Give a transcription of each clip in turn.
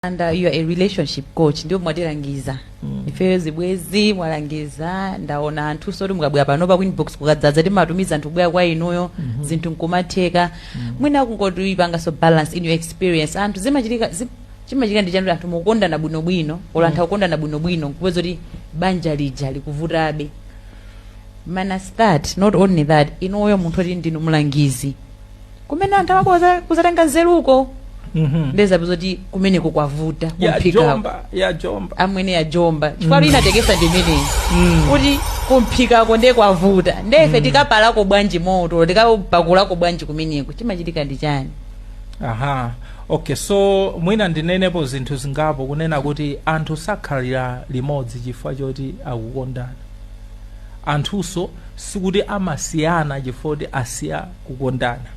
and uh, you are a relationship coach ndipo mwatilangiza mm. ifeyo zibwezi mwalangiza ndaona anthu zoti mukabwera panopa ku inbox kukadzadza timatumiza anthu kubwera kwa inuyo mm -hmm. zinthu nkumatheka mm -hmm. mwina kungotipanganso balance in your experience anthu zimachitika zi, chimachitika ndi chani anthu mukukondana bwinobwino olo anthu akukondana bwinobwino nkupeza kuti banja lija likuvutabe minus that not only that inuyo munthu oti ndinu mlangizi kumene anthu amakhoza kuzatenga nzeruko Mhm. ndezabe zoti kumeneko kwavuta ya kumphikako jomba yajomba amwene yajomba chifukwa mm. inatekesa ndimeneyi Mm. kuti kumphikako nde kwavuta nde ife tikapalako bwanji moto tikapakulako bwanji kumeneko chimachitika ndi chani aha okay so mwina ndinenepo zinthu zingapo kunena kuti anthu sakhalira limodzi chifukwa choti akukondana anthunso sikuti amasiyana chifukwa kuti asiya kukondana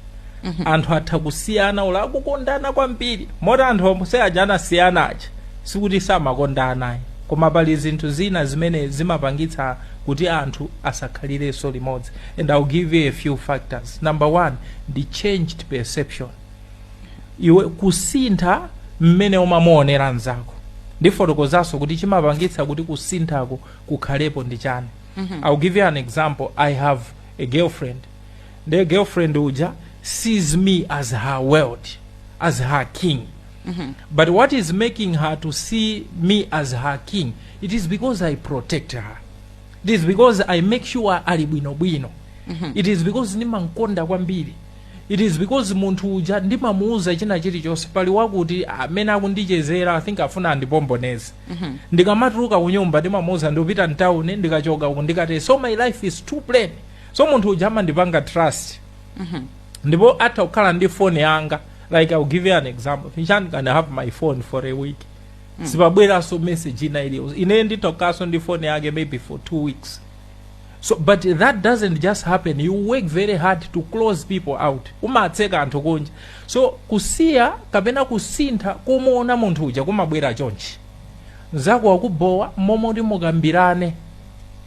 anthu atha kusiyana olo akukondana kwambiri moti anthu omwe aja anasiyana aja sikuti samakondana ayi koma pali zinthu zina zimene zimapangitsa kuti anthu asakhalirenso limodzi and i'll give you a few factors number one ndi changed perception iwe kusintha mmene umamuonera mzako ndifotokozanso kuti chimapangitsa kuti kusinthako kukhalepo ndi chani i'll give you an example i have a girlfriend nde girlfriend uja sees me as her world as her king but what is making her to see me as her king it is because i protect her it is because i make sure ali bwinobwino it is because ndimamkonda kwambiri it is because munthu uja ndimamuuza china chilichonse pali wakuti amene akundichezera i think afuna andipomboneze ndikamatuluka kunyumba ndimamuuza ndikupita mtawuni ndikachoka uku ndikatero so my life is too plain so munthu uja amandipanga trust ndipo atha kukhala ndi phone yanga like i'll give you an example finchani can have my phone for a week sipabweranso message ina iliyonse ine nditha kukhalanso ndi phone yake maybe for two weeks so but that doesn't just happen you work very hard to close people out umatseka anthu kunja so kusiya kapena kusintha kumuona munthu uja kumabwera chonchi mzako wakubhowa momwe kuti mukambirane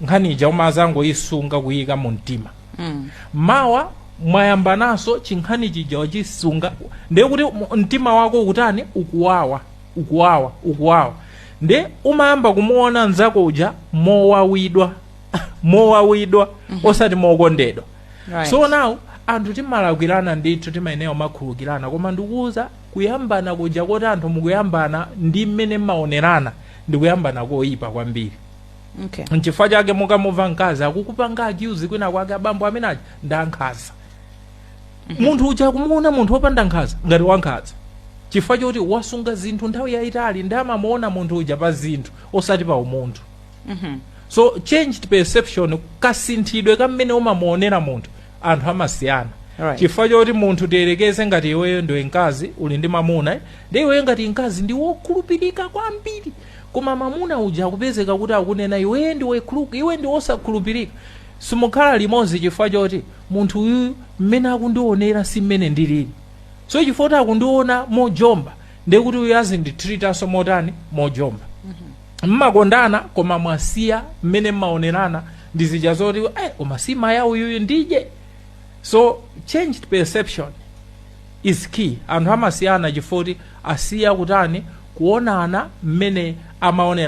nkhani ija umazangoyisunga kuyika mu mtima Mm. mawa mwayambananso chinkhani chija wachisunga ndiye kuti mu- mtima wako ukutani ukuwawa ukuwawa ukuwawa ndiye umayamba kumuona mzako uja mowawidwa mowawidwa osati mokondedwa Right. so now anthu timalakwirana ndithu timayenera kumakhulukirana koma ndikuwuza Kuyambana kuja koti anthu mukuyambana ndi mmene mmaonerana ndi kuyambana koyipa kwambiri Okay. nchifukwa chake mukamumva mkazi akukupanga accuse kwina kwake abambo amenewa ndi ankhaza munthu uja akumuona munthu wopanda nkhaza ngati wankhaza chifukwa choti wasunga zinthu nthawi yayitali ndi amamuona munthu uja pa zinthu osati pa umunthu Mhm. so changed perception kasinthidwe kamene umamuonera munthu anthu amasiyana Alright. chifukwa choti munthu tiyerekeze ngati iweyo ndiwe mkazi uli ndi mamuna eh, ndi iweyo ngati mkazi ndiwe wokhulupirika kwambiri koma mamuna uja akupezeka kuti akunena iwe iwe ndiwe wosakhulupirika simukhala limodzi chifukwa choti munthu uyu mmene akundionera si mmene ndilili so chifukwa kuti akundiona mojomba ndekuti uyu azinditreatanso motani mojomba mmakondana koma mwasiya mmene mmaonerana ndi zija zoti eh, koma si maya uyuyu ndije so changed perception is key anthu amasiyana chifukwa choti asiya kutani kuonana mmene amaonera